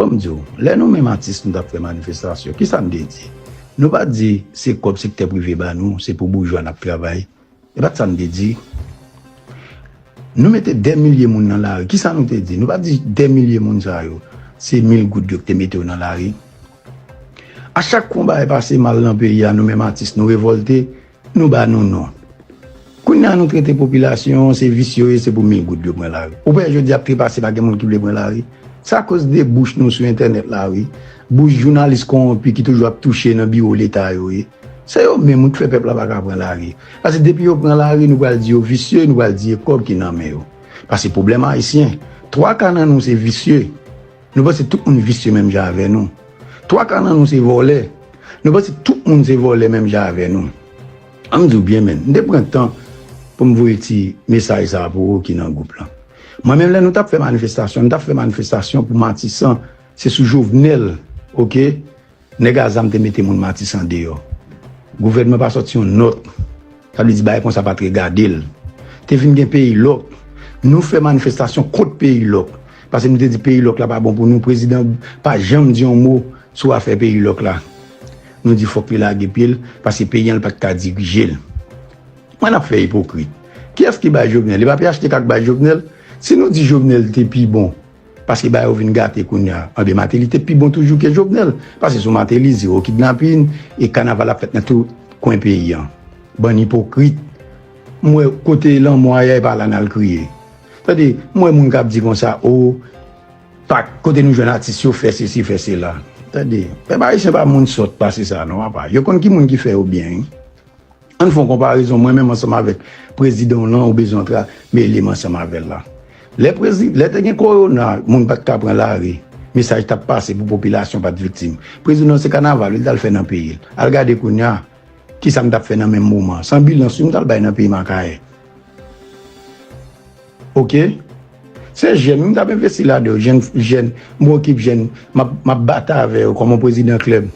Fò m di w, lè nou menm atis nou t ap fè manifestasyon, ki sa n te di? Nou pa t di se kòb sektè prive ba nou, se pou boujwa n ap travay. E pa t sa n te di. Nou mete dè milye moun nan lari, ki sa nou te di? Nou pa t di dè milye moun sa yo, se mil goud yo ki te mete yo nan lari. A chak konba e pase mal nan peyi a, nou menm atis nou revòlte, Nou ba nou non. Kounye a nou trete popilasyon se vis yo ye se pou mil goud yo pran lari. Ou wè jodi a trepase pa gen moun ki vle pran lari. Se akoz de bouch nou sou entènèt la wi. Bouch jounalis konwonpi ki toujou ap touche nan biwo leta yo ye. Se yo menm wi ki fè pèp la pa ka pran lari. Pase depi yo pran lari nou pral di yo visye, nou pral di e kòb ki nan men yo. Pase pwoblèm ayisyen, twa ka nan nou se visye. Nou panse tout moun visye menm jan avè nou. Twa ka nan nou se vòlè. Nou panse tout moun se vòlè menm jan avè nou. An m di w byen menn, m te pran tan pou m voye ti mesaj sa a pou ou ki nan gwoup lan. Mwen menm lè nou t ap fè manifestasyon, nou t ap fè manifestasyon pou Matisan, se sou Jovenel, oke, Nèg a zam te mete moun Matisan deyò. Gouvènman pa sòti yon nòt. Sa vle di bagay konsa pa t regade l. Te vin gen peyi lòk. Nou fè manifestasyon kont peyi lòk. Pase nou te di peyi lòk la pa bon pou nou. Prezidan pa janm di yon mo sou afè peyi lòk la. Nou di fòk li lage pye l pase peyi an l pa t ka dirije l. Kman n ap fè ipokrit? Kiyès ki bay Jovenel? Li pa phtk k bay Jovenel? Si nou di Jovenel te pi bon Paske bagay yo vin gate kounya. Anben Mateli te pi bon toujou ke Jovenel. Pase sou Mateli, zero kidnapin, e kanaval ap fèt nan tout kwen peyi an. Bann ipokrit. M wè kote lanmò a ye e pa la nal kriye. Tande, m wè moun kap di konsa oo pak kote nou jwenn atis yo fè sesi fè sela. Tande, pèp ayisyen pa moun sòt pase sa non apa. Yo konn ki moun ki fè yo byen wi. Ann fon konparezon mwen menm ansanm avèk prezidan w lan ou bezwen antre a mele m ansanm avèl la. Lè prezi lè te gen korona moun pat ka pran lari mesaj tap pase pou popilasyon pat viktim. Prezidan se kanaval li tal fè nan peyi l. Al gade kounya kisa m tap fè nan menm moman an san bilan si m tal bay nan peyim akayè. Ok se jèn wi m tap envesti ladan yo jèn jèn m okip jèn map map batay avè yo kòm yon prezidan klèb.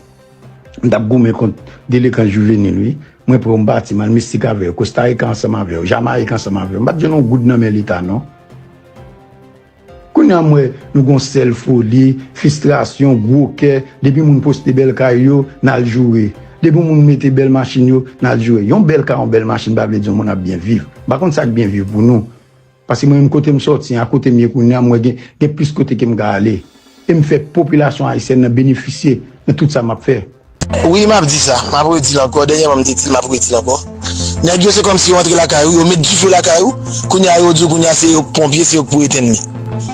M tap goumen kont delekan juvenil wi mwen prè w m pati mal mistik avèw kostarikan ansanm avèw jamayik ansanm avèw m pat jwenn yon goud nan men leta non kounya m wè nou gon sèl foli fistrasyon gwo kè depi moun poste bèl kay yo nal joure depi moun mete bèl machin yo nal joure yon bèl kay yon bèl machin pa vle di yon moun ap byen viv m pa konn sak byen viv pou nou. Paske mwen menm kote m sòti an, a kote m ye kounye an, m wè gen gen plis kote ke m ka ale. E m fè popilasyon ayisyèn nan benefisye nan tout sa m ap fè. Wi m ap di sa, m ap redi l ankò, dènyèman m te di l m ap redi l ankò. Nèg yo se kòmsi yo antre lakay ou, yo met dife lakay ou, kounye a yo di w kounye a se yo k ponpye, se yo k pou etenn li.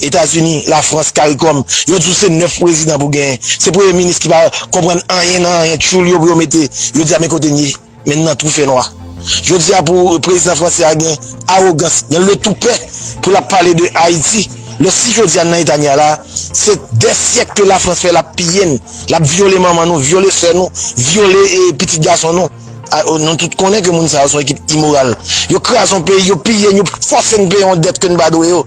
Etazini, Lafrans, Caricom, yo di w se 9 prezidan pou genyen. Se premye minis ki pa konprann anyen nan anyen tchoul yo pou yo mete yo di a men kote n ye men n nan twou fè nwa. Jodi a pou prezidan fransè a gen awogans, gen le toupè pou l ap pale de Ayiti lè si jodi a n nan eta n ye a la a se dè syèk ke Lafrans fè l ap piye n, l ap vyole manman nou, vyole sè nou, vyole pitit gason nou. Nou tout konnen ke moun sa yo se yon ekip imoral. Yo kraze yon peyi, yo piye n, yo fòse n peye yon dèt ke n pa dwe yo.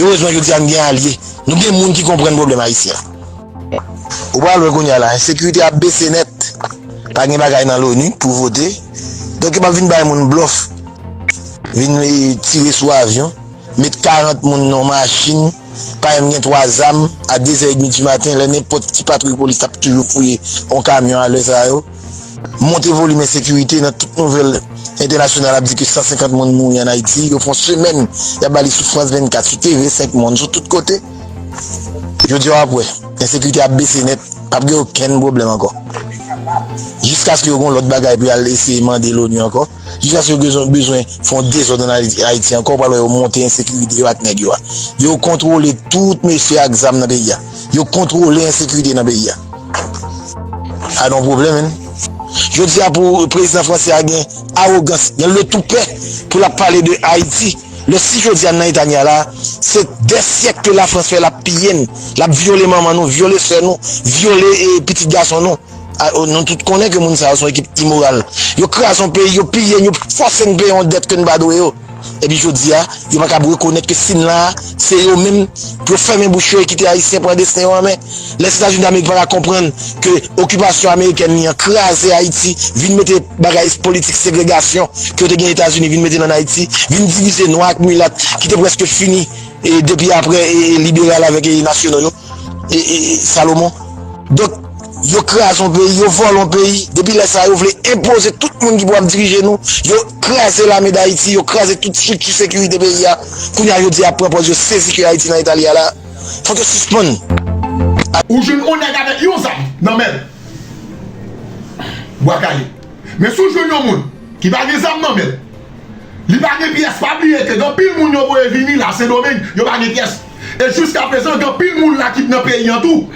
Erezman jodia n gen alye, nou gen moun ki konprann pwoblèm ayisyen an. Ou pral wè kounya la ensekirite ap bese nèt, pa gen bagay nan loni pou vote, donk yo pap vin bay moun blòf, vin tire sou avyon, met 40 moun nan yon machin, pa menm gen 3 zam, a dezè edmi di maten lè nenpòt ki patwouy polis tap toujou fouye yon kamyon a lè sa yo. Monte volim ensekirite nan tout nouvèl entènasyonal ap di ke 150 moun mouri an Ayiti, yo fon semèn yap ba li sou France 24, sou TV 5 Monde, sou tout kote. Jodi a wap wè, ensekirite ap bese nèt, pap gen okenn pwoblèm ankò. Jiskaske yo gen yon lòt bagay pou yal eseye mande l'ONU ankò. Jiska se yo bezwen bezwen fè yon dezòd an Ayiti ankò, ou pral wè yo monte ensekirite yo ak nèg yo a. Yo kontwole tout mesye ak zam nan peyi a. Yo kontwole ensekirite nan peyi a. A nou pwoblèm menn. Jodi a pou prezidan franse a gen awogans, gen le toupè pou l ap pale de Ayiti, lè si jodi a n nan eta n ye a la a, se dè syèk ke Lafrans fè l ap piye n, l ap vyole manman nou, vyole sè nou, vyole pitit gason nou. Nou tout konnen ke moun sa yo son ekip imoral. Yo kraze yon peyi, yo piye n, yo fòse n peye yon dèt ke n pa dwe yo. Epi jodi a, yo pa kab rekonèt ke si n la a, se yo menm pou yo fèmen bouch yo e kite Ayisyen pran desten yo an men. Lèzetazini Damerik pa ka konprann ke okipasyon amerikèn li an kraze Ayiti, vin mete bagay politik segregasyon ke yo te gen Etazini vin mete l ann Ayiti, vin divize nwa ak milat ki te prèske fini depi apre liberal avèk nasyonal yo. e Salomon donk yo kraze yon peyi yo vòlè yon peyi depi lè sa yo vle enpoze tout moun ki pou ap dirije nou yo kraze lame dayiti yo kraze tout strikti sekirite peyi a kounye a yo di yap pran pòz yo sezi ke ayiti nan eta li a la fòk yo sispann. Ou jwenn yon nèg avèk yon zam nan menl bwa kale men si w jwenn yon moun ki pa gen zam nan menl li pa gen pyès pa bliye ke gen anpil moun yo voye vini la sendomeng yo pa gen pyès. e jiska prezan gen anpil moun la ki t nan peyi an tou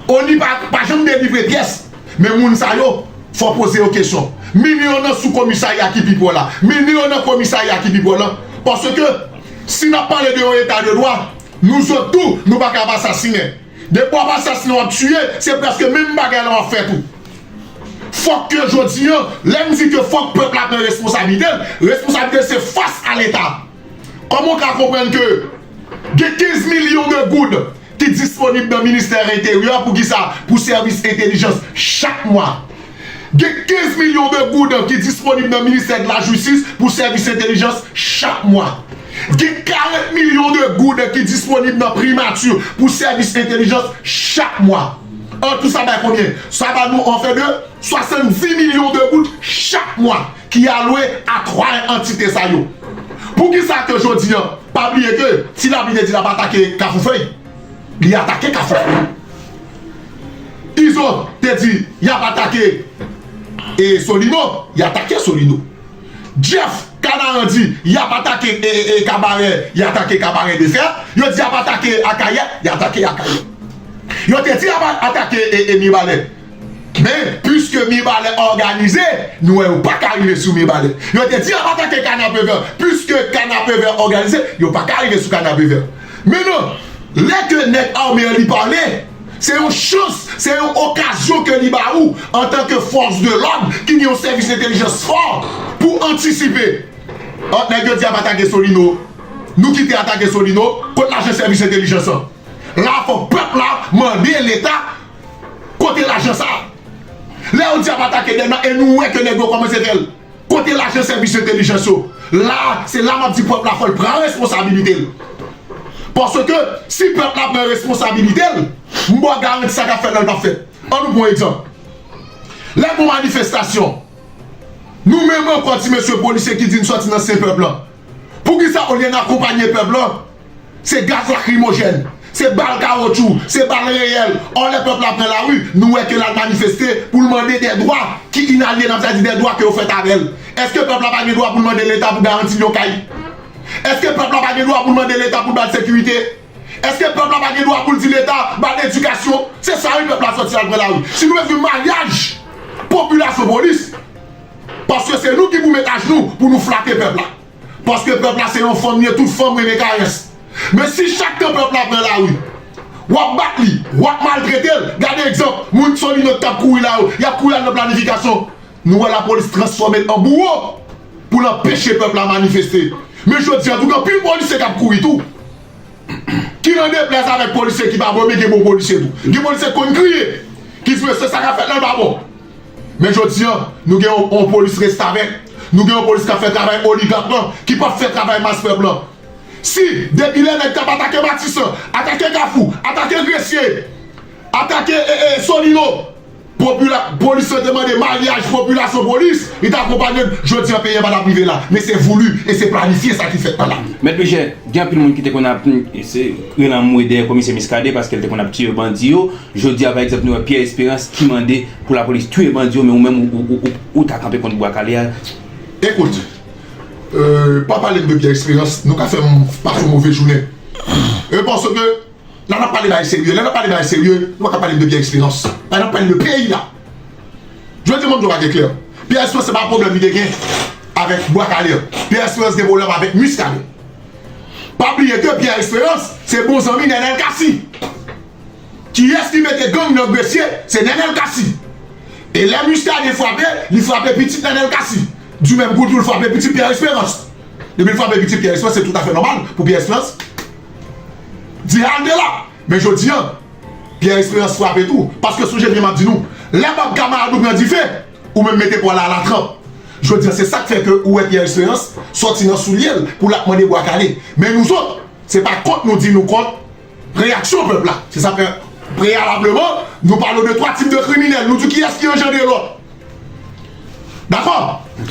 onu pa janm delivre pyès men moun sa yo fò poze yo kesyon mine yo nan sou komisarya ki pi pwò la mine yo nan komisarya ki pi pwò lan paske si nap pale de yon eta de dwa nou zot tou nou paka ap asasinen depi wap asasinen wap tiye se prèske menm bagay lan wap fè tou fòk ke jodi an lèm di ke fòk pèp la pran responsablitel responsablitel se fas a leta. Kòman w ka konprann ke gen 15 milyon de goud ki disponib nan ministè enteryè pou ki sa? Pou sèvis entelijans chak mwa. Gen 15 milyon de goud ki disponib nan ministè de la jistis pou sèvis entelijans chak mwa. Gen 40 milyon de goud ki disponib nan primati pou sèvis entelijans chak mwa. An tou sa bay konbyen? Sa ba nou anfen de 70 milyon de goud chak mwa. ki alwe a 3 antite sa yo. Poukisa ke jodi an, pa bliye ke si Labi te di lap atake Kafoufèy, li atake Kafoufèy. Izo te di yap atake e Solino, li atake Solino. Jeff Kanaran di yap atake e Kabarè, li atake Kabarè de fè. Yo di yap atake Akayè, li atake Akayè. Yo te di yap atake e Mibalè. Men, piske Mibalè òganize, nou wè yo pa ka rive sou Mibalè. Yo te di ap atake Kanapevè, piske Kanapevè òganize, yo pa ka rive sou Kanapevè. Men non, lè ke nèg ame an li pale, se yon chans, se yon okazyon ke li ba ou, antan ke fòs de lòd ki gen yon sèvis entelijans fò, pou antisipe. An, nèg yo di ap atake Solino. Nou kite atake Solino, kot lajan sèvis entelijans an? La a fòk pèp la mande Leta. Kote lajan sa? Lè yo di ap atake Dèlma e nou wè ke nèg yo kòmanse fè l, kote lajan sèvis entelijans yo? La, se la m ap di pèp la fò l pran responsabilite l. Paske, si pèp la pran responsabilite l, m ba w garanti sa k ap fèt la l p ap fèt. An nou pran egzanp. Lè gon manifestasyon, nou menm ankò ti mesye polisye ki di n sòti nan sen pèp lan, poukisa olye n akonpanye pèp lan, Se gaz lakrimojèn, se bal kawotchou, se bal reyèl, ò lè pèp la pran lari, nou wè ke l al manifeste pou l mande dè dwa ki inalyenab, sa di dè dwa ke yo fèt avè l. Èske pèp la pa gen dwa pou l mande Leta pou garanti l yon kay? Èske pèp la pa gen dwa pou l mande Leta pou l ba l sekirite? Èske pèp la pa gen dwa pou l di Leta ba l edikasyon? Se sa wi pèp la sòti al pran lari. Si nou bezwen maryaj popilasyon-polis, paske se nou ki pou met ajnou pou nou flate pèp la. Paske pèp la se yon fanm ye tout fanm renmen karès men si chak tan pèp la pran lari wap bat li wap maltretel gade egzanp moun solino tap kouri la yo yap kouri al nan planifikasyon nou wè lapolis transfòmel an bouwo poul anpeche pèp la manifeste men jodi an tout anpil polisye kap kouri tou ki nan deplèz avèk polisye ki pa bon men gen bon polisye tou gen polisye ki konn kriye ki vre se sa kap fèt nan lba bon. Men jodi an, nou gen yon polis restavèk, nou gen yon polis k ap fè travay oligak lan, ki p ap fè travay mas pèp lan. Si depi lè nèg t ap atake Matisan, atake Kafou, atake Gresye, atake Solino, polis lan te mande maryaj popilasyon-polis, li te akonpanye l, jodi an peyi an pa t ap rive la. Men se voulu e se planifye sa ki fèt la. Mèt Michel, gen anpil moun ki te konn ap rele anmwe dèyè Komisè Miskaden paske l te konn ap tiye bandi yo. Jodi a pa egzanp nou wè Pierre Esperance ki mande pou lapolis touye bandi yo men ou menm ou ta kanpe kont bwa kale a. Ekout, pa pale m de Pierre Esperance, nou ka fè m pase yon move jounen. Paske, la n ap pale bagay serye, lè n ap pale bagay serye, nou pa ka pale m de Pierre Esperance. An n ap pale de peyi a. Jodi a m ap di yon bagay klè, Pierre Esperance se pa pwoblèm li te gen avèk bwa kale a. Pierre Esperance gen pwoblèm avèk Muscadin. Pa bliye ke Pierre Esperance se bon zanmi Nenel Cassy. Kiyès ki mete gang nan gresye se nènèl kasi e lè muscadin frape li frape pitit nènèl kasi du menm kou tou l frape pitit pierre esperans depi l frape pitit pierre esperans se tout afè nòmal pou pierre esperans di halte la men jodi an pierre esperans frape tou paske sonje byen map di nou lè bab kamarad ou pran dife ou menm mete pwa la ala tranp jodi an se sak fè ke ou wè pierre esperans sòti nan soulye l pou lap mande bwa kale men nou zòt se pa kont nou di nou kont. Reyaksyon pèp la, se sa fè preyalableman nou pale de 3 tip de kriminèl, nou di kiyès ki anjandre lòt. Dakò?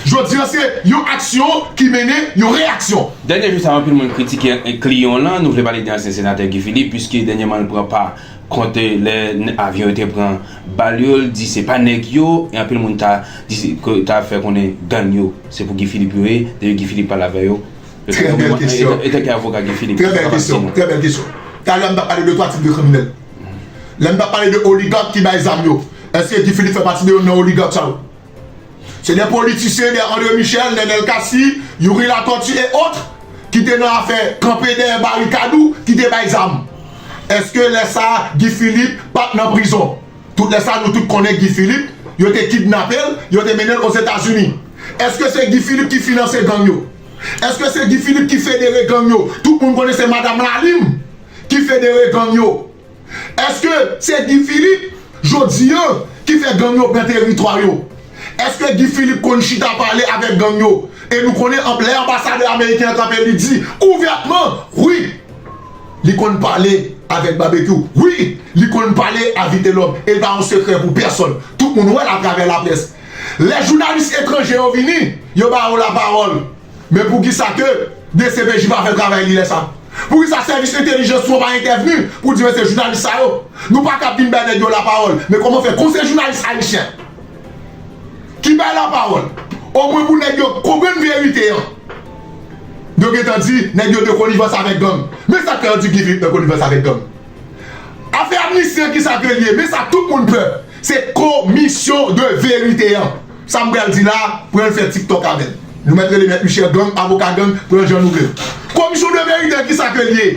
Jodi an se yon aksyon ki mennen yon reyaksyon. Dènye jou sa yo anpil moun kritike Clion lan, nou vle pale de ansyen senatè Guy Philippe puiske dènyeman l pran pa kont lè avyon yo te pran bal yo, l di se pa nèg yo e anpil moun ta di, ta fè konnen gang yo se pou Guy Philippe yo ye depi Guy Philippe pale avè yo. Trè bèl kesyon. E tè kè avoka Guy Philippe. Trè bèl kesyon. Trè bèl kesyon. Talè a m ta pale de 3 tip de kriminèl. Lè m ta pale de oligak ki bay zam yo. Eske Guy Philippe fè pati de youn nan oligak sa yo? Se de politisyen, de André Michel, Nenel Cassy, Youri Latortue et autres ki te nan afè kanpe dèyè barikad ou ki te bay zam. Eske lè sa a Guy Philippe pa t nan prizon? Tout lè sa a nou tout konnen Guy Philippe yo te kidnape l, yo te mennen l Ozetazini. Eske se Guy Philippe ki finanse gang yo? Eske se Guy Philippe ki federe gang yo? Tout moun konnen se madam Lalim ki federe gang yo. Eske se Guy Philippe jodi an ki fè gang yo pran teritwa yo? Eske Guy Philippe konn chita pale avèk gang yo? E nou konnen anb lè anbasadè ameriken an kanpe li di ouvètman wi li konn pale avèk Babekyou, wi li konn pale a Vitelòm e l pa yon sekrè pou pèsòn. Tout moun wè l atravè laprès. Lè jounalis etranje yo vini, yo ba yo lapawòl. Men poukisa ke dcpj pa fè travay li lè sa? Poukisa sèvis entelijans nou an pa entèvni pou di mesye jounalis sa yo, nou pa kab vin bay nèg yo lapawòl. Men kòman fè kon se jounalis ayisyen ki bay lapawòl, omwen pou nèg yo konprann verite an, yo gen tan di nèg yo de konivans avèk gang. Men sa k fè yo di Guy Philippe nan konivans avèk gang. Afè amnisti an kisa ke li ye? Men sa tout moun pè, Se komisyon de verite an. Sa m pral di la, pran l fè tiktok avèl. Nou mèt rele mèt Michel gang, avoka gang, pran l jan nou vle l. Komisyon de verite an kisa ke l ye?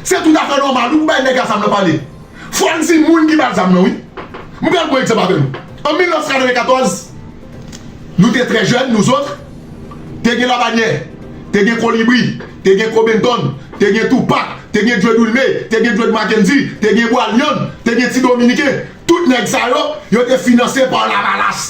Se tout afè nòmal wi pou bay nèg la zam nan pale. Fò n di moun ki ba l zam nan wi. M pral pran egzanp avè nou. An 1994, nou te trè jèn nou zot. te gen Labanyè, te gen Kolibri, te gen Kobentòn, te gen Toupak, te gen Djwed Wilme, te gen Djwed Makendy, te gen Bwalyann, te gen Ti Dominiken, tout nèg sa yo, yo te finanse pa Lavalas.